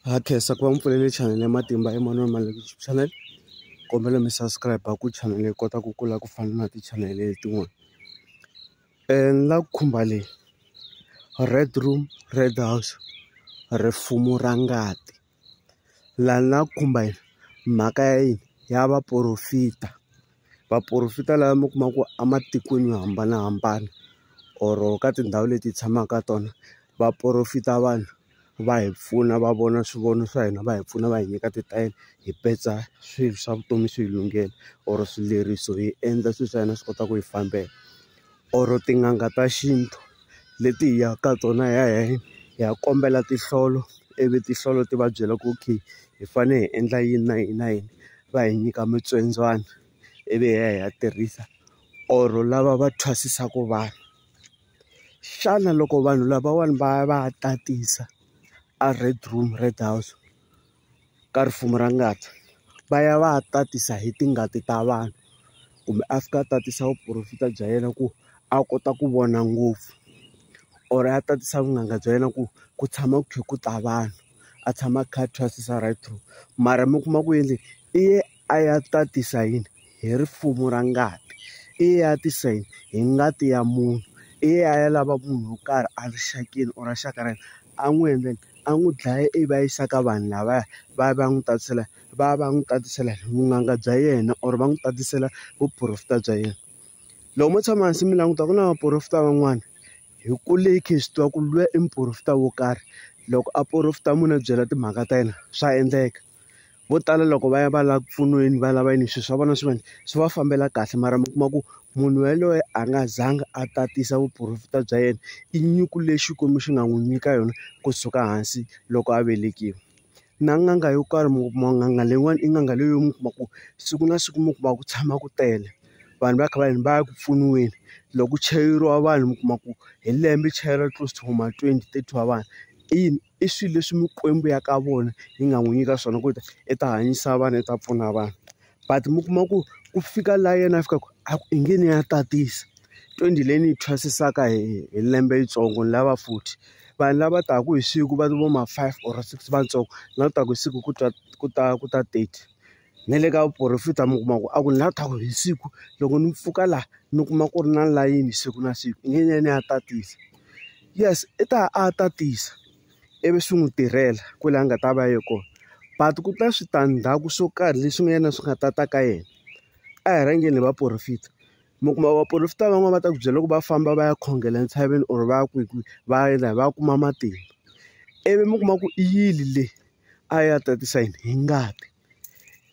ha khensa ku va mi pfulele chanel ya matimba emanuel maleki youtube channel kombela mi subscribe ku chanel yi kota ku kula ku fana na tichanele letin'wana um ni la ku khumba leyi red room red house rifumo ra ngati laha ni la ku khumba yini mhaka ya yini ya vaporofita Vaporofeta lava mi kuma ku ematikweni yo hambanahambana or ka tindhawu leti hi tshamaka ka tona va porofeta vanhu va hi pfuna va vona swivono swa hina va hi pfuna va hi nyika titayele hi petsa swilo swa vutomi swi hi lunghela or swileriso hi endla swilo swa hina swi kota ku hi fambela. or tin'anga ta xintu leti hi yaka ka tona hi ya hi ya hi ya kombela tinhlolo ivi tinhlolo ti va byela ku okay hi fane hi endla yini na yini na yini va hi nyika mitsondzwana ivi hi ya hi ya tirhisa or lava va thwasisaku vanhu xana loko vanhu lavawani va ya va ya tatisa a red room red house. ka ripfumelo ra ngati va ya va ya tatisa hi tingati ta vanhu kumbe a fika a tatisa vuporofeta bya yena ku a kota ku vona ngopfu or a tatisa vunanga bya yena ku ku tshama ku kha ku ta vanhu a tshama a kha a thwasisa right through mara mi kuma ku yini i ye. A ya ta tisa yini? Hi rifumo ra ngati. I ye a tisa yini? Hi ngati ya munhu. I ye a ya lava munhu wo karhi erixakeni or rixaka ra yena, a n'wi endla yini? A n'wi dlaya ivi a yisa ka vanhu lavaya, va ya va ya n'wi tatisela va ya va ya n'wi tatisela hi vun'anga bya yena or va n'wi tatisela vuporofeta bya yena. Loko mo tshama hansi mi languta ku na vaporofeta van'wana, hi kule hi kha hi swi tiva ku luya i muporofeta wo karhi. Loko a porofeta mi n'wi byela timhaka ta yena, swa endleka. Vo tala loko va ya va lava ku pfuniweni va lava yini swilo swa vona swi va swi va fambela kahle mara mi kuma ku munhu yaloye a nga zanga a tatisa vuporofeta bya yena i nyuku leyi Xikwembu xi nga n'wi nyika yona kusuka hansi loko a velekiwa na n'anga yo karhi mi kuma n'anga leyiwani i n'anga leyi mi kuma ku siku na siku mi kuma ku tshama ku tele vanhu va kha va yini va ya ku pfuniweni loko ku chayeriwa vanhu mi kuma ku hi lembe chayeriwa close to ma twenty thirty wa vanhu i yini i swilo leswi mikwembu ya ka vona yi nga n'wi nyika swona ku ri i ta hanyisa vanhu i ta pfuna vanhu but mi kuma ku ku fika laha yena a fikaka a ku i nge ni ya tatisa twenty leyi ni yi thwasisaka hi hi lembe yitsongo ni lava futhi vanhu lava taka hi siku va vo ma five or six vatsongo na leswaku hi siku ku ta ku ta ku ta thirty. na le ka vuporofeta mi kuma ku a ku na thaku hi siku loko ni pfuka laha ni kuma ku ri na layini siku na siku i nge ni ya ni ya tatisa yes i ta a tatisa ivi swi n'wi tirhela kwale a nga ta va ye kona but ku ta switandzhaku swo karhi leswi nga yena swi nga ta ta ka yena a hi rhangeni hi vaporofeta mi kuma vaporofeta van'wani va ta ku byela ku va famba va ya khongela entshaveni or va ya kwihi kwihi va ya va ya kuma matimba ivi mi kuma ku i yini le. a ya tatisa yini hi ngati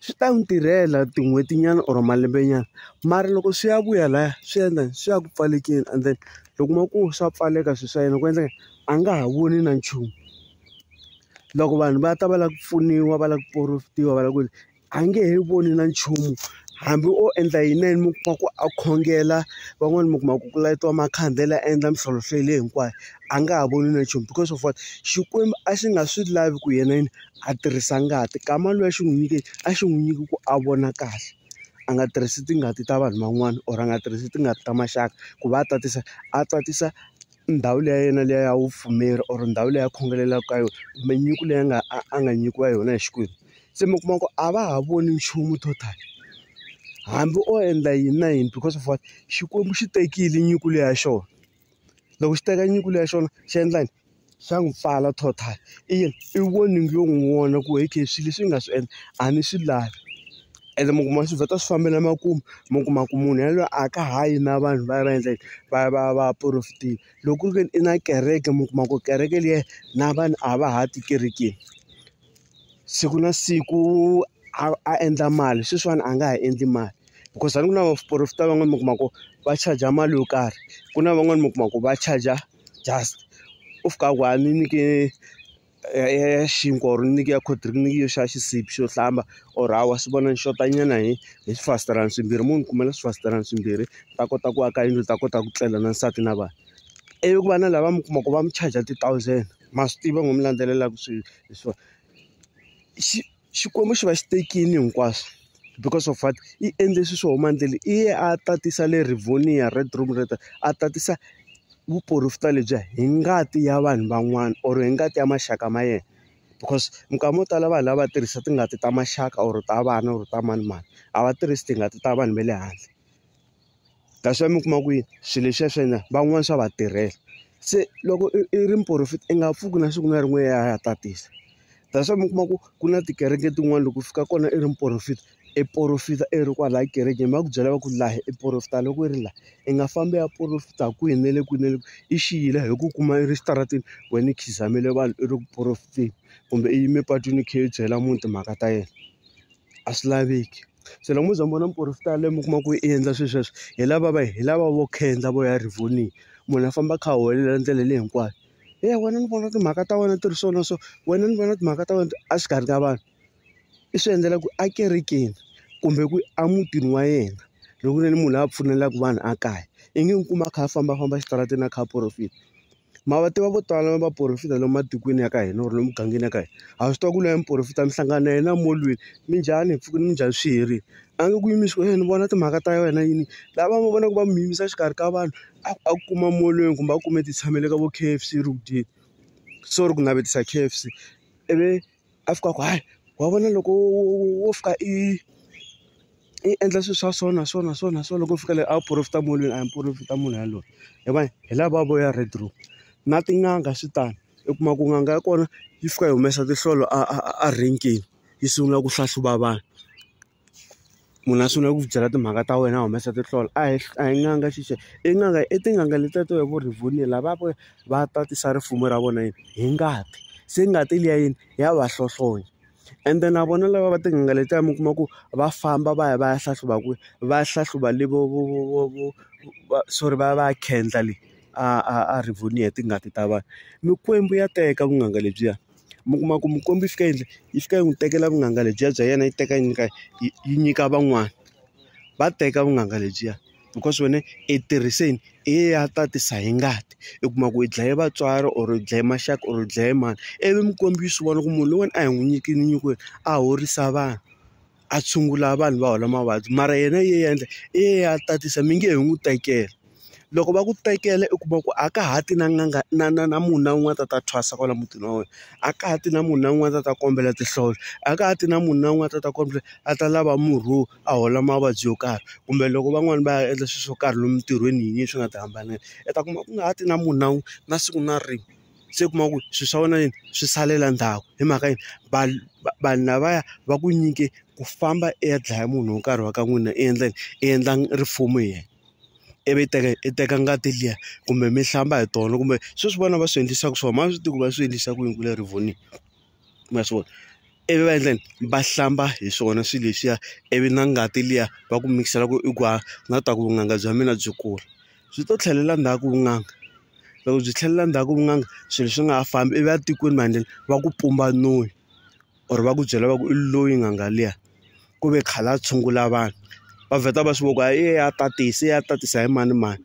swi ta n'wi tirhela tin'hwetinyana or malembenyana mara loko swi ya vuya laya swi endla swi ya ku pfalekeni and then loko ma ku swa pfaleka swilo swa yena ku endleka a nga ha voni na nchumu loko vanhu va ta va lava ku pfuniwa va lava ku porofitiwa va lava ku yini. a nge he voni na nchumu hambi o endla yini na yini mi kuma ku a khongela van'wani mi kuma ku ku layitiwa makhandlele a endla mintlhontlho leyi hinkwayo a nga ha voni na nchumu because of what Xikwembu a xi nga swi lavi ku yena yini a tirhisa ngati kama loyi a xi n'wi nyike a xi n'wi nyiki ku a vona kahle a nga tirhisi tingati ta vanhu van'wani or a nga tirhisi tingati ta maxaka ku va a tatisa a tatisa ndhawu liya ya yena liya ya vupfumeri or ndhawu leyi a khongelaka ka yona kumbe nyiko leyi a nga a nga nyikiwa yona hi Xikwembu. Se mi kuma ku a va ha voni nchumu total hambi o endla yini na yini because of what Xikwembu xi tekile nyiko leyi ya xona loko xi teka nyiko leyi ya xona xi endla yini xa n'wi pfala total i yini i warning yo n'wi warn-a ku okay swilo leswi ni nga swi endla a ni swi lavi ene mi kuma swi vheta swi fambela makumu mi kuma ku munhu yaloye a ka ha yi na vanhu va ya va endla yini va ya va ya va ya porofitile loko ku ri ke ni i na kereke mi kuma ku kereke liya na vanhu a va ha ti ekerekeni. siku na siku a a endla mali sweswiwani a nga ha endli mali because a ni ku na vaporofeta van'wani mi kuma ku va charger mali yo karhi ku na van'wani mi kuma ku va charger just u fika ku a ni nyike ya xinkwa or ni nyike ya cold drink ni nyike xa xisibi xo hlamba or hawa swi vona ni xota nyana hi hi swifasiterana swimbirhi mo ni kumela swifasiterana swimbirhi ni ta kota ku aka yindlu ni ta kota ku tlela na nsati na vana ivi ku va na lava mi kuma ku va mi charger ti-thousand. ma swi tiva n'wi mi landzelelaka swi leswiwani xi xikwembu xi va xi tekile hinkwaswo because of what i endle swilo swo huma endleni i ye a tatisa le Rivonia red room red a tatisa vuporofeta lebyiya hi ngati ya vanhu van'wana or hi ngati ya maxaka ma yena because minkama yo tala vanhu lava tirhisa tingati ta maxaka or ta vana or ta manemane a va tirhisi tingati ta vanhu va le handle. That's why mi kuma ku swilo leswiya swa hina van'wani swa va tirhela. Se loko i i ri muporofeta i nga pfuki na siku na rin'we i ya i ya tatisa. That's why mi kuma ku ku na tikereke tin'wani loko u fika kona i ri muporofeta, i porofeta i ri kwalaya ekerekeni va ku byela va ku laha i porofeta loko i ri laha. I nga fambi i ya porofeta kwihi na le kwihi na le kwihi, i xi yile hi ku kuma i ri xitarateni wena i khizamile vanhu i ri ku porofeteni, kumbe i yime patwini i kha i byela munhu timhaka ta yena. A swi laveki. se loko mo za mi vona muporofeta yaloye mi kuma ku i endla swilo sweswo hi lava va hi lava vo khendza vo ya rivoniya munhu a famba a kha a huwelela ndlela leyi hinkwayo he wena ni vona timhaka ta wena ti ri so na so wena ni vona timhaka ta wena a xikarhi ka vanhu i swi endlela ku ekerekeni kumbe ku emutini wa yena loko ku ri munhu la pfumelelaka vanhu a kaya i nge n'wi kuma a kha a fambafamba exitarateni a kha a porofeta. ma va tiva vo tala va porofeta lomu matikweni ya ka hina or lomu mugangeni ya ka hina ha swi tiva ku loya muporofeta mi hlangana na yena emolweni minjhani hi pfuke nimunjhani swi herile a nge ku yimisi wena ni vona timhaka ta wena yini lava mi vonaka va mi yimisa exikarhi ka vanhu a a kuma molweni kumbe a kume ti tshamele ka vo K_F_C ri ku dyeni sorry ku navetisa K_F_C ivi. a fika a ku hayi wa vona loko wo wo fika i i endla swilo swa so na so na so na so loko u fika le a wu porofeta munhu loyi a hi mu porofeta munhu yaloye hi va hi lava vo ya red roof na tin'anga swi tano u kuma ku n'anga ya kona yi fika yi humesa tinhlolo a a a renkeni yi sungula ku hlahluva vanhu. munhu a sungula ku byela timhaka ta wena a humesa tinhlolo a hi a hi n'anga xixe i n'anga i tin'anga letiya to hi vo Rivonia la va va va tatisa ripfumelo ra vona yini hi ngati se ngati liya yini ya va hlohlonya ende na vona lava va tin'anga letiya mi kuma ku va famba va ya va ya hlahluva kwihi va ya hlahluva le vo vo vo vo vo va sorry va ya va ya khendla le a a a Rivonia hi tingati ta vanhu mikwembu ya teka vun'anga lebyiya. mi kuma ku mukombi yi fika yi endla yi fika yi n'wi tekela vunanga lebyiya bya yena yi teka yi nyika yi yi nyika van'wana va teka vunanga lebyiya because wena i tirhise yini i ye ya tatisa hi ngati i kuma ku i dlaye vatswari or i dlaye maxaka or i dlaye mani ivi mukombi yi swi vona ku munhu loyiwani a hi n'wi nyikile nyiko leyi a horisa vanhu. a tshungula vanhu va hola mavabyi mara yena yi endla i ye a tatisa mi nge he n'wi tekela loko va ku tekela u kuma ku a ka ha ti na n'anga na na na munhu na un'wana a ta ta thwasa kwala mutini wa wena a ka ha ti na munhu na un'wana a ta ta kombela tinhlolo a ka ha ti na munhu na un'wana a ta ta kombela a ta lava murhi wo a hola mavabyi yo karhi kumbe loko van'wani va ya endla swilo swo karhi lomu ntirhweni yiniyini swi nga ti hambanela u ta kuma ku nga ha ti na munhu na wun'we na siku na rin'we. se u kuma ku swilo swa wena yini swi salela ndzhaku hi mhaka yini vanhu vanhu lavaya va ku nyike ku famba i ya dlaya munhu wo karhi wa ka n'wina i endla yini i endla rifuwo hi yena ivi i teka i teka ngati liya kumbe mi hlamba hi tona kumbe sweswi vana va swi endlisaka swona ma swi tiva ku va swi endlisa ku yini kule rivoniwa. ma swi vona ivi va endla yini va hlamba hi swona swilo leswiya ivi na ngati liya va ku mikisela ku i ku haha na ku ta ku vunanga bya mina byi kula byi to tlhelela ndzhaku vunanga loko byi tlhelela ndzhaku vunanga swilo swi nga ha fambi ivi a tikweni manjhe va ku pumba noyi or va ku byela va ku i loyi n'anga liya ku ve khale a tshungula vanhu va vheta va swi vona ku a ya tatisa ya tatisa hi manimani.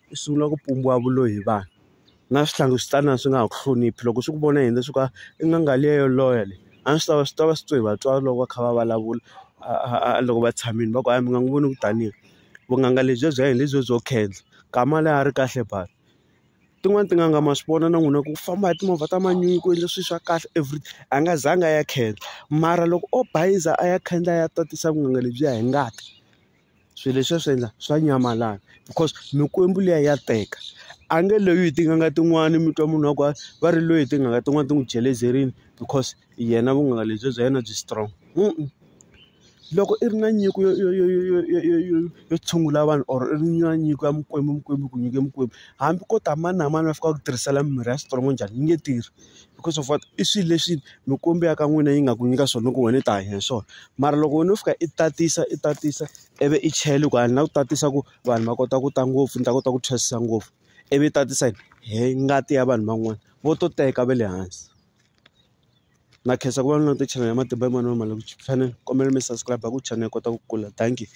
u sungula ku pumbiwa vulolo hi vanhu na swihlangi swi tani swi nga ha ku hloniphi loko swi ku vona yini swi ku i n'anga liya yo loya leyi a swi tava swi tava swi twa hi vatswari loko va kha va vulavula a loko va tshamile va ku a mi nga n'wi voni ku tani vunanga lebyiya bya hina hi lebyiya byo khendla nkama loyi a ri kahle buti tin'wani tin'anga ma swi vona na n'wina ku famba hi timovha ta manyunyu ku endle swilo swa kahle everything a nga zanga a ya khendla mara loko o bayiza a ya khandla a ya tatisa vunanga lebyiya hi ngati. swilo leswi a swi endla swa nyamalala because mikwembu liya ya teka a nge loyi hi tin'anga tin'wani mi twa munhu wa ku a va ri loyi hi tin'anga tin'wani ti n'wi jelezerile because yena vun'anga lebyi bya yena byi strong loko i ri na nyiko yo yo yo yo yo yo yo yo yo tshungula vanhu or i ri na nyiko ya mikwembu mikwembu ku nyike mikwembu hambi ko ta mani na mani va fika va ku tirhisela mimirhi ya strong njhani yi nge tirhi. because of what i swilo leswi mikwembu ya ka n'wina yi nga ku nyika swona loko wena i ta hanya hi swona mara loko wena u fika i tatisa i tatisa ivi i chela hi ku a ni la ku tatisa ku vanhu va kota ku ta ngopfu ni ta kota ku thwasisa ngopfu ivi i tatisa yini hi ngati ya vanhu van'wana vo to teka va le hansi na khensa ku va na tichanele ya matimba ya manana ma le ku channel kombela mi subscribe ku channel kota ku kula dankie.